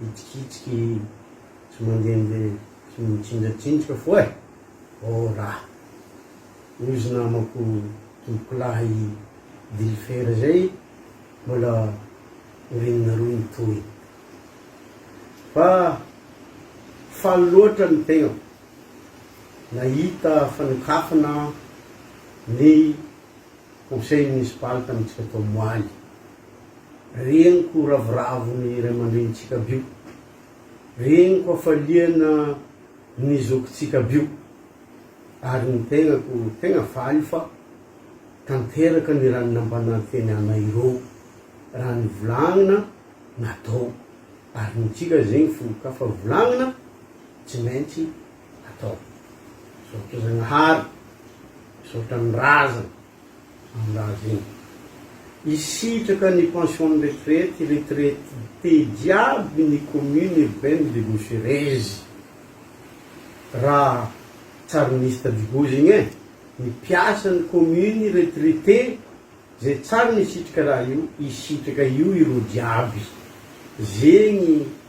hitsikitsiky sy mandehandeha sy mitsinjatsinjoka foa e! Oh rah! Hoy izy namako tompokolahy dilifera izay mbola orinina roa ny tohiny. Fa faly loatra ny tegnako nahita fanokafana ny Conseil municipal tamintsika tao Moaly. Reniko ravoravo ny ray aman-drenintsika bio. Reniko hafaliana ny zokintsika bio. Ary ny tegnako tegna faly fa tanteraka ny raha nampanantena anay ireo. Raha nivolagnina, natao. Ary ny antsika zegny folokafa volagnina, tsy maintsy. atao. Misaotra Zagnahary, misaotra ny razana amin'ny raha zeny. Hisitraka ny pension ny retraite, retraite te jiaby ny commune urbaine de Bosherezy. Ra tsarin'isy tadiboho zegny e, ny mpiasan'ny commune retraite zay tsary nisitraka raha io, hisitraka io ireo jiaby. Zegny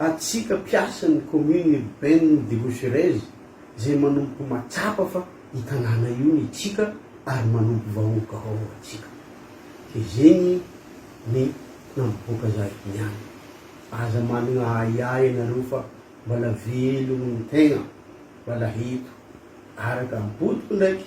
Antsika mpiasan'ny commune urbaine de Rocherez izay manomboka mahatsapa fa io tanàna io ny tsika ary manompo vahoaka ao antsika. Dia zegny ny nampipoaka za eto niany. Aza managna ahiahy ianareo fa mbala velogno ny tegna, mbala eto. Araka am-potoko ndraiky